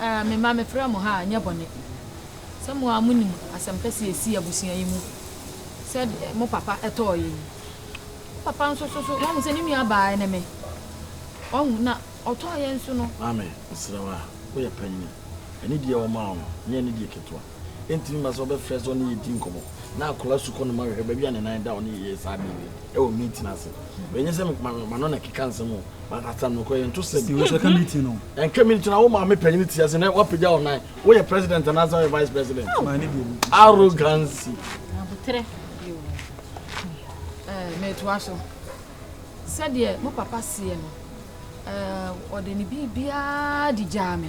Eh me mma mefrɛ mo ha a ɛnyɛ bɔne sɛ mo ara monim asɛm kɛse a ɛsii abusua yi mu sɛ deɛ mo papa tɔɔeɛ yi. Mo papa nso so so moahu sɛ ne nua baa ne me. Wahu na ɔtɔɔeɛ nso no. Maame, mesrɛ wo a woyɛ panyini, ɛne deɛ wɔmaa wo no nyɛ ne deɛ ketewa. ɛntumi mma sɛ ɔbɛfrɛ sɛ ɔne yɛ di nkɔmmɔ. Ná akwadaa sukuu no ma hwehwɛ baabi a ne nan da, ɔne yɛ yɛ saa bere bi wɔ meeting ase. Ɛnyɛ sɛ m'ano na ɛkeka nsɛm o, but asɛm no kɔ yɛn to sɛm. Ɛntwa meeting no, wo maame panyin ti ase na wapagya wo nan, woyɛ president anaasɛ woyɛ vice president? Arrogancy. Abotere. Eh, metoa so. Sɛdeɛ mo papa seɛ no, eh, ɔde ne biribiara de gyaa me.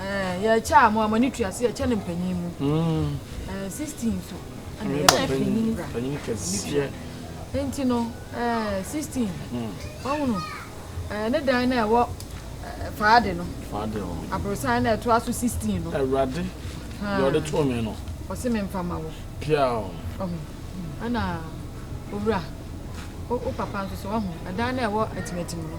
Eh, yɛkyɛ a mo a mo ani tua so yɛkyɛ no mpanyin mu. Mm. Eh, 16 nso. Ɛna yɛ bɛ panyin bra. Panyin kɛseɛ. Nti no, eh, 16. Mm. Ɔhunu, eh, ne dan na ɛwɔ eh, faade no. Faade hɔ. Aborosan na ɛtoa so 16 no. Awurade, deɛ ɔde too me no. Ɔse me mfa ma wo. Pia o. Ɔhunu, ɛna owura, o papa nso so ɔhunu, ɛdan na ɛwɔ atimatim no.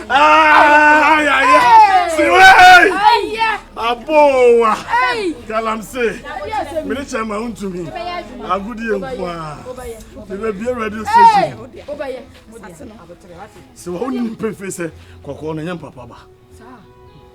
abowa galamse mene kyɛ ma wontumi agodeɛ nko a mebɛbia radio station sɛ wɔwo nim pefee sɛ kɔkɔɔ no ɛnyɛ mpapa ba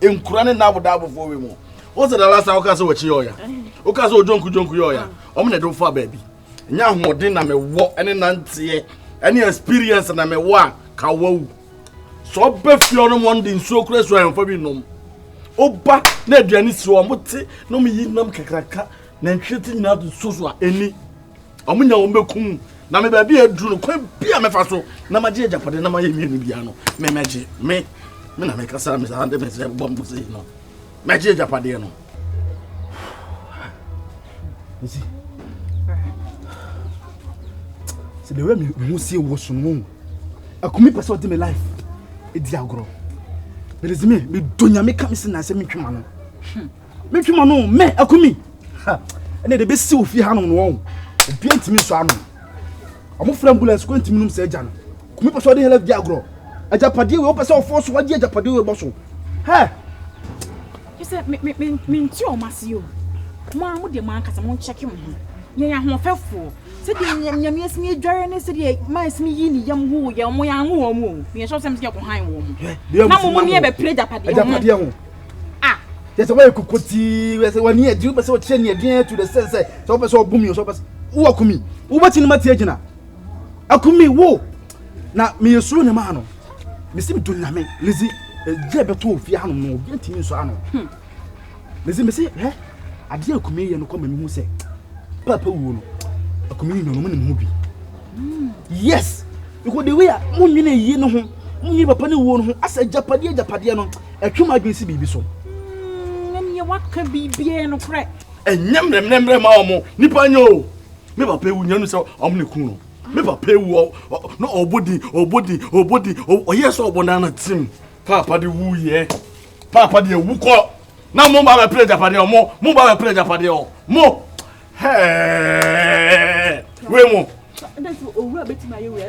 nkura ne n'abodaabofo wɔ mu wɔn sɛ dala san wɔka sɛ wɔkyi yɛ ɔya wɔka sɛ ɔdwonku dwonku yɛ ɔya wɔn na ɛde fa baabi nya ahoɔden na mɛwɔ ɛne nanteɛ ɛne experience na mɛwɔ a ka wawu sɛ ɔbɛ fie ɔnom wɔn de nsuo kura nsuo ahemfa bi nom ɔba na aduane si wɔn mo te na wɔn yi nam kakraka na nhwɛ ti nyinaa to nsuo so a ɛni. wɔn nya wɔn bɛkum na me baabi a aduru no kwan bi a mɛfa so na magye agyapadeɛ na mayɛ mmienu biara no memɛgye me me na mekasa me saa de me sɛ bɔ mpo sei no mɛgye agyapadeɛ no ɛsi sɛ deɛ wura mehu sie wɔ so no mu akumi pɛ sɛ ɔde me life ɛdi agorɔ bɛdɛsi me medɔ nyame ka me se na sɛ metwema no hmm. Me twi ma no me akumi. Ha. Ɛna de besi ofie ha no no wɔn. Obi ntimi so ano. Ɔmo fura ambulance ko ntimi nom sɛ agya no. Kumi pɛ sɛ ɔde help di agorɔ. Agyapadeɛ wei ɔpɛ sɛ ɔfɔ so wagye agyapadeɛ wei bɔ so. Hɛ. Kyesɛ me me me me nti ɔmo ase yo. Mo a mo deɛ mo ankasa mo nkyɛke mo ho. Yɛn yɛ ahoɔfɛfoɔ. Sɛdeɛ nyam nyame asini adware ne sɛdeɛ maa asini yi ne yam ho yɛ ɔmo yɛ anwo wɔn o. Yɛn sɔ sɛm sɛ yɛ kɔ han wɔn. Na mo mo ne yɛ bɛpere agyapadeɛ ho. Agyapadeɛ ho. Ah! Kyɛ sɛ woayɛ kokotii, wopɛ sɛ w'ani agye, wopɛ sɛ wokyerɛ ne aduan atu the sense sɛ sɛ wopɛ sɛ ɔbo mi o, sɛ wopɛ sɛ wo akumi, wobɛti no mati agyina. Akumi wo! Na meyɛ suro ne maa no. Mesi me dɔ nyame, Lizzy, ɛgya eh, bɛtɔ ofie hanom no, obi ntumi nsɔ ano. Hmm. Lizzy, mesi, hɛ, adeɛ akumi yɛ no kɔ ma mehu sɛ, papa wuo no, akumi nyɔnom ne mu bi. yes because the way a mo nyina yie no ho mo nyina papa ne wuo no ho asɛ agyapadeɛ agyapadeɛ no ɛtwe mo adwene si biribi so ɛneɛ mm, waka biribiaa no korɛ ɛnyɛ mmerɛmmerɛmmerɛ ma ɔmo nipa nyɛ o me papa ewu nyɛ no sɛ ɔmo ne kun no me papa ewu na ɔbɔ din ɔbɔ din ɔbɔ din ɔyɛ sɛ ɔbɔ nana tim paapa de wu yɛ paapa de ewu kɔ na mo ba bɛ pere agyapadeɛ ɔmo mo ba bɛ pere agyapadeɛ ɔ mo. wei mu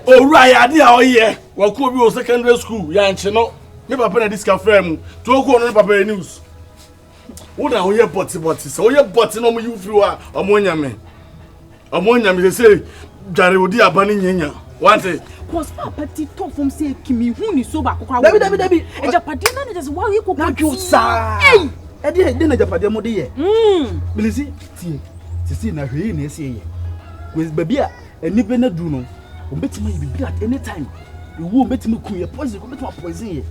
owura yɛ ade a ɔyɛ wakuo bi wɔ secondary school yɛankye no ne papa na de sika frɛ mu nti ɔkuo no ne papa yɛ news wo na woyɛ bɔtebɔte sɛ woyɛ bɔte na ɔmoyi wo firi hɔ a ɔmo anya me ɔmo anya me sɛ sɛ dware odi aba ne nyanya Wante. Cause papa ti tɔ fam sɛ ɛki mi hu ni so baako kora. Dabi dabi dabi. Ɛjapadeɛ na ne jɛsɛ wa yɛ koko tii. Nadwo saa. Ɛyi. Ɛdi yɛ ɛdi na ɛjapadeɛ mo de yɛ. Bilisi tie sisi na hwɛ yi na ɛsi yɛ. Wɛ baabi a ɛni bɛ na du no wɔn bɛ ti ma yɛ bibi at any time ewu wɔn bɛ ti ma kun yɛ poison wɔn bɛ ti ma poison yɛ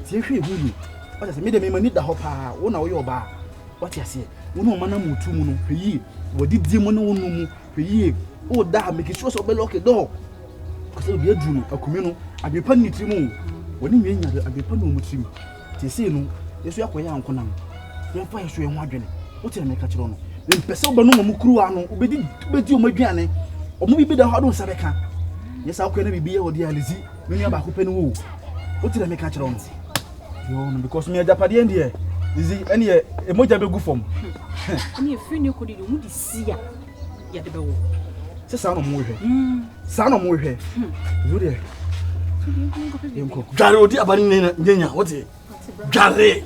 tie hwɛ ehu yi wɔn sɛ mi de mi ma ni da hɔ paa wɔn na wɔyɛ ɔbaa wɔte aseɛ wɔn na wɔn ma na mu tu mu no hwɛ yi wɔde die mu na wɔn nu mu. Hwɛ yie, O da a make sure sɛ wobɛlɔke dɔɔ, ɛfiri sɛ obi aduru no akumi no, adwene pa ne ne tirim o, wɔne nwia nya adwene pa ne wɔn tirim. Te sei no, yɛ nso yɛakɔyɛ ankonam, yɛmfa yɛ so yɛn ho adwene. Wote na meka kyerɛ no, mempɛ sɛ wobɛnom wɔn kuruwa no, wobɛdi wobɛdi wɔn aduane, wɔn bi bɛda hɔ ado nsa bɛka. Nyɛ saa kɔɛ na biribi yɛ wɔde alizi, me nua baako pɛ ne wo o. Wote na meka kyerɛ no. Yoo no, because me agyapadeɛ deɛ, lizi ɛneɛ, ɛmogya bɛgu fam. Ɛneɛ firi ne kɔdi de, ɔmo di si a yɛde bɛwo sɛ saa na ɔmo hwɛ hmm. saa na ɔmo hwɛ hmm. wo deɛ yɛnkɔ dware odi aba ne nyanya wote dware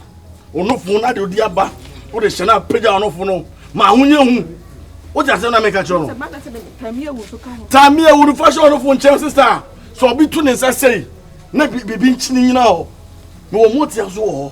ɔnofo no ade odi aba wode hyɛ no apagya ɔnofo no ma ahonyɛ hu wote asɛm na meka kyerɛ no tame awu no fa hyɛ ɔnofo nkyɛn sesa sɛ ɔbi to ne nsa sɛi na biribi nkyene nyina hɔ mewɔ motia so wɔ hɔ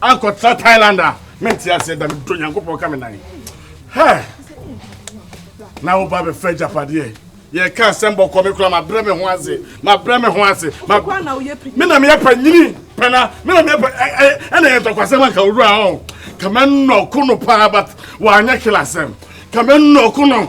ankɔtra thailand a mente aseɛ da medɔ nyankopɔn ka me nan hɛ na woba bɛfa agyapadeɛ yɛka asɛm bɔkɔ me kora mabrɛ me ho ase mabrɛ me ho ase me na meyɛ panyini pɛna me na meyɛ ɛna yɛ ntɔkwasɛm anka wowura ɔ kama nnɔko no paa but wanyɛ kelasɛm kama nnɔko no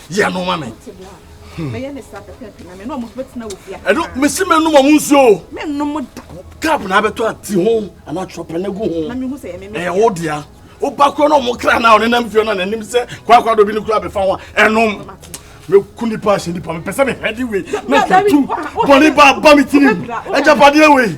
yɛ no ma me ɛno mese menom ɔmo nsuo kap na abɛtɔ ati ho anaa trɔpɛ no gu ho ɛyɛ wo dea woba korɔ na ɔmo kra no a ɔne nam fie no nanim sɛ kwakwa dɔ bi no kora bɛfa ho a ɛnom mɛku nipa ahyɛ nipa mepɛ sɛ mehwɛ de wei na twatom bɔne ba ba me tirim agyapadeɛ wei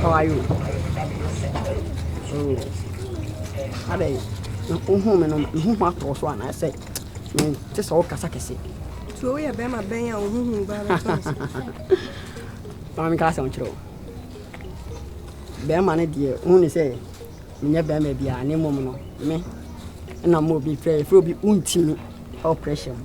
How are you? Oh. Adɛn? Wohu me no, mehu ho atɔ so anaasɛ mente sɛ wokasa kɛse. So woyɛ bɛrima bɛn a wohuhu ba bɛtɔ so? Ma menka asɛm kyerɛ wo. Bɛrima no deɛ wohu ne sɛ menyɛ bɛrima biara ne mmom no me na ma obi frɛ frɛ obi wontimi ɛwɔ pressure mu.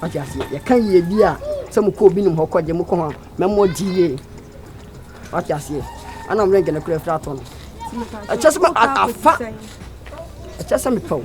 Wate aseɛ? Yɛka yiedie a, sɛ mokɔ obi nim hɔ kɔgye, mokɔ ho a, mɛma ɔgye yie. Wate aseɛ? Ana mmerɛ nkɛ no kora afiri atɔ no. Ɛkyɛ sɛ afa. Ɛkyɛ sɛ mepɛ wo.